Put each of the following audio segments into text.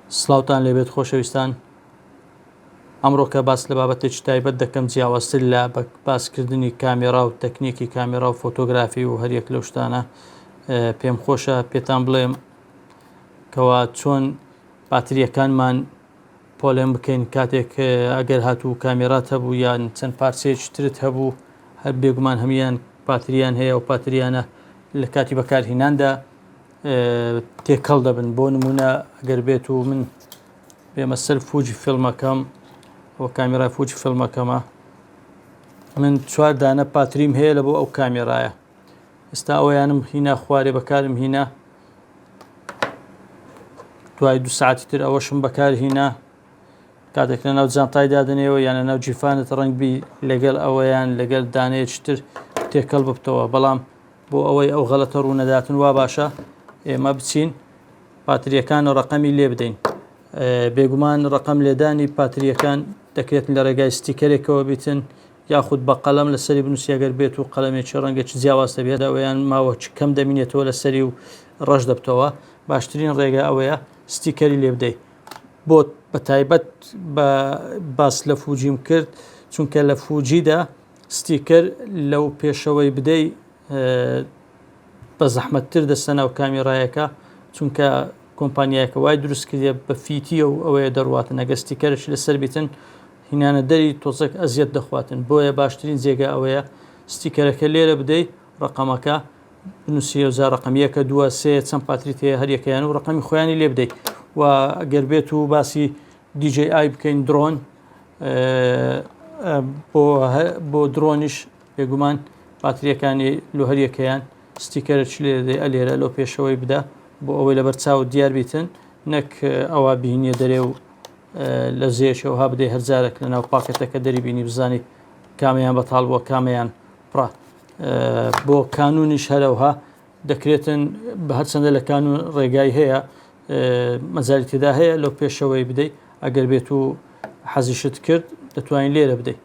سلاوتان لێبێت خۆشەویستان ئەمڕۆکە باس لە بابەتێکی تایبەت دەکەم جیاوازتر لە باسکردنی کامێرا و تەکنیکی کامێرا و فۆتۆگرافی و هەریەک لەو شتانە پێم خۆشە پێتان بڵێم کەوا چۆن باتریەکانمان پۆلێن بکەین کاتێک ئەگەر هاتوو کامێرات هەبوو یان چەند پارچەیەکی ترت هەبوو هەر بێگومان هەمان پاتریان هەیە و پاتریانە لە کاتی بەکارهیناندا تێکەڵ دەبن بۆ نمونە گەر بێت و من بێمە سەر فوجی فیلمەکەم بۆ کامیرای فوجی فیلمەکەمە من چوار دانە پاتریم هەیە لە بۆ ئەو کامێرایە ئستا ئەویانم هینا خوارێ بەکارم هینا دوای دو ساعتی تر ئەوەشم بەکار هینا کاتێک لە ناو جانتای دادنێەوە یانە ناو جیفانت ڕنگبی لەگەڵ ئەوەیان لەگەل دانێتر تێکەڵ ببتەوە بەڵام بۆ ئەوەی ئەو غەلەتە ڕوونەداتن وا باشە ئێمە بچین پاتریەکان ڕقەمی لێ بدەین بێگومان ڕقم لێدانی پاتریەکان دەکرێت لە ڕێگای ستیکەرێکەوە بیتن یاخود بە قەلم لە سەری بنووسیەگەر بێت و قەلمێکی ڕەنگێکی جیاواز دەبێت ئەویان ماوە کەم دەمینێتەوە لە سەری و ڕەش دەبتەوە باشترین ڕێگە ئەوەیە ستیکەری لێ بدەیت بۆ بە تایبەت باس لە فوجیم کرد چونکە لە فوجیدا ستیکەر لەو پێشەوەی بدەی بەزەحمەت تر دەستە ناو کامیرایەکە چونکە کۆمپانیایەکە وای دروست کردە بە فیتیە و ئەوەیە دەڕاتن ئەگە ستیکەرش لەسەر بیتن هینانە دەری تۆزەک ئەزیەت دەخواتن بۆیە باشترین جێگە ئەوەیە ستیکەرەکە لێرە بدەی ڕقەمەکە بنووسی ئەوزار ڕقم یەکە دووە سێ چەند پاتریت هەیە هەریەکەیان و ڕقەمی خۆیانی لێ بدەیت و گەربێت و باسی دیجەی ئای بکەین درۆن بۆ درۆنیش بێگومان باتریەکانی لۆ هەریەکەیان ستیکەرە چ لێ دێ ئەلێرە لۆ پێشەوەی بدە بۆ ئەوەی لەبەر چاو دیار بیتن نەک ئەوە بینیە دەرێ و لە زێشەوە ها بدەی هەرجارێک لە ناو پاکەتەکە دەری بینی بزانی کامیان بەتاڵ بووە کامیان پڕە بۆ کانونیش هەرەوها دەکرێتن بە هەرچەندە لە کانون ڕێگای هەیە مەجالی تێدا هەیە لەو پێشەوەی بدەیت ئەگەر بێت و حەزیشت کرد دەتوانین لێرە بدەیت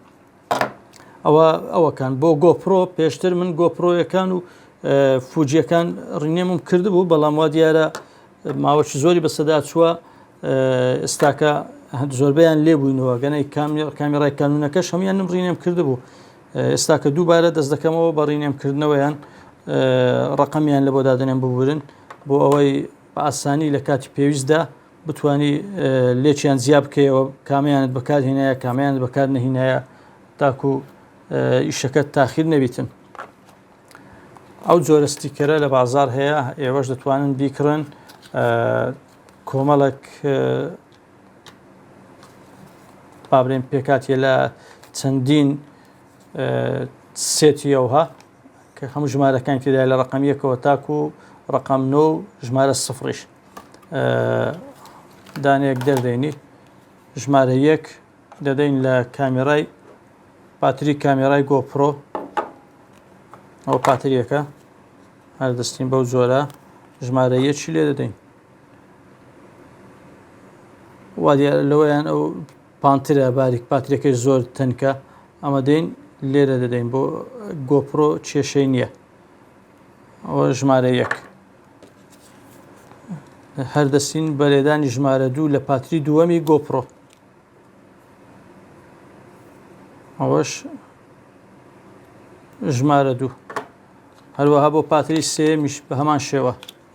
ئەوە ئەوەکان بۆ گۆپرۆ پێشتر من گۆپرۆیەکان و فوجیەکان ڕینێمم کردبوو بەڵام وا دیارە ماوەکی زۆری بەسەدا چووە ئێستاکە زۆربیان لێبووینەوە گەنەی کامی کامیڕای کانونەکەش هەموان نمڕینێم کردبوو ئێستا کە دووبارە دەست دەکەمەوە بە ڕینێم کردنەوەیان ڕقمیان لە بۆ دادنێن ببورن بۆ ئەوەی بە ئاسانی لە کاتی پێویستدا بتانی لێکیان زیا بکەیەوە کامیانت بەکارهێنایە کامیانت بەکار نەهینایە تاکو ئیشەکە تاخیر نەبیتن ئەو جۆرە ستیکەرە لە بازار هەیە ئێوەش دەتوانن بیکڕن کۆمەڵک بابرێن پێکاتیە لە چەندین سێتیەوها کە هەموو ژمارەکان تێدا لە ڕقم یەکەوە تاکو ڕقم نۆ و ژمارە سفریش دانێک دەردەینی ژمارە یەک دەدەین لە کامێرای پاتری کامێرای گۆپڕۆ ئەو پاتریەکە هەردەستین بەو جۆرە ژمارە یەکی لێ دەدەین وادیارە لەوەیان ئەو پانترە باریک پاترەکەی زۆر تەنکە ئەمە دەین لێرە دەدەین بۆ گۆپرۆ کێشەی نییە ئەوە ژمارە یەک هەردەسین بەرێدانی ژمارە دوو لە پاتری دووەمی گۆپرۆ ئەوەش ژمارە دوو هەروەها بۆ پاتری سێمیش بە هەمان شێوە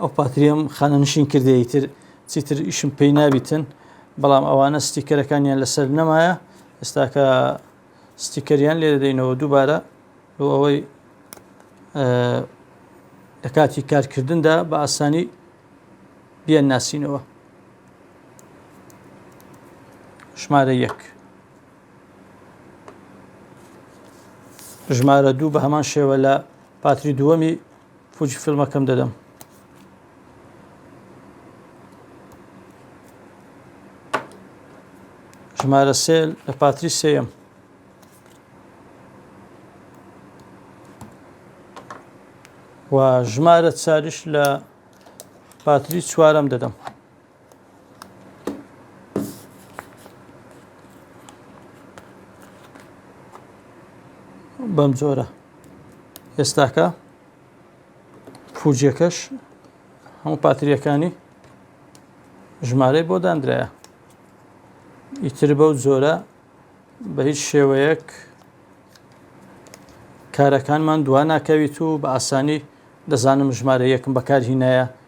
ئەو پاتریەم خانەنشین کردی تر چیتر ئیشم پێی نابیتن بەڵام ئەوانە ستیکەرەکانیان لەسەر نەمایە ئێستاکە ستیکەریان لێ دەدەینەوە دووبارە بۆ ئەوەی لە کاتی کارکردندا بە ئاسانی بیان ناسینەوە ژمارە یەک ژمارە دوو بە هەمان شێوە لە پاتری دووەمی فوجی فیلمەکەم دەدەم. ژمارە سێ لە پاتری سێم و ژمارە چاریش لە پاتری چوارم دەدەم بەم جۆرە ئێستاکە فوجەکەش هەموو پاتریەکانی ژمارەی بۆ دانراە ئیتر بەو جۆرە بە هیچ شێوەیەک کارەکانمان دوا ناکەویت و بە ئاسانی دەزانم ژمارە یەکم بەکارهینایە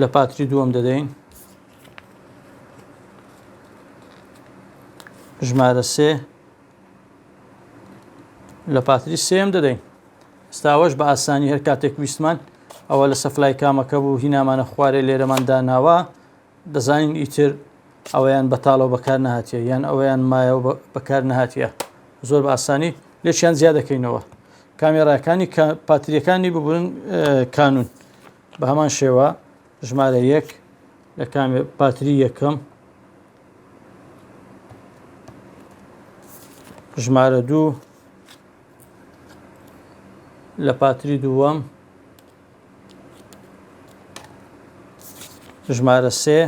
لە پاتری دووەم دەدەین ژمارە سێ لە پاتری سێم دەدەین ستاوەش بە ئاسانی هەر کاتێک ویستمان ئەوە لە سەفلای کامەکە بوو هینامانە خوارێ لێرەمان داناوە دەزانین ئیتر ئەویان بەتاڵەوە بەکار نهاتە یان ئەویان مایەوە بەکار نهاتە زۆر بە ئاسانی لێکیان زیاد دەکەینەوە کامێراکانی پاتریەکانی ببورن کانون بە هەمان شێوە ژمارە یەک لە کامێ پاتری یەکەم ژمارە دوو لە پاتری دووەم ژمارە سێ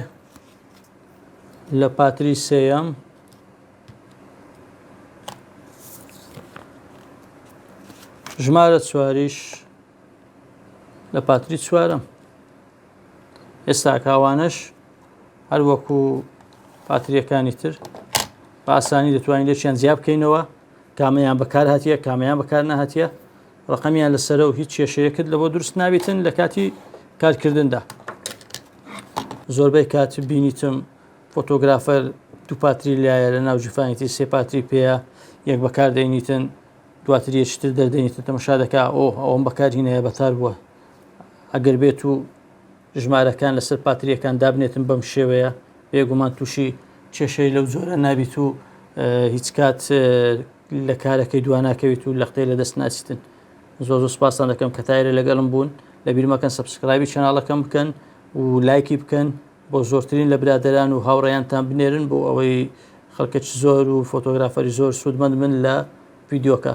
لە پاتری سێەم ژمارە چواریش لە پاتری چوارم ئێستا کاوانش هەر وەکو پاتریەکانی تر باسانی دەتوانین لێکیان جیا بکەینەوە کامیان بەکار هاتیە کامیان بەکار نهاتە ڕقمیان لەسەر و هیچ کێشەیەکت لەەوە دروست نابیتن لە کاتی کارکردندا زۆربەی کات بینیتم فۆتۆگرافەر، دووپاتری لایە لە ناو جفانی تر سێ پاتری پێیە، یەک بەکار دەینیتن دواتر یەکی تر دەردەینیتن تەمەشا دەکا ئۆه ئەوەم بەکار هینایە بەتار بووە ئەگەر بێت و ژمارەکان لەسەر پاتریەکان دابنێتن بەم شێوەیە بێگومان تووشی کێشەی لەو جۆرە نابیت و هیچ کات لە کارەکەی دواناکەویت و لەختەی لە دەست ناچیتن زۆ زۆ سپاسان دەکەم کە تایرە لەگەڵم بوون لە بیرمەکەن سبسکرایبی چناڵەکەم بکەن و لایکی بکەن بۆ زۆرترین لە برادەران و هاوڕێیانتان بنێرن بۆ ئەوەی خەلکەچ زۆر و فۆتۆگرافەری زۆر سوودمەند بن لە ڤیدیۆکە.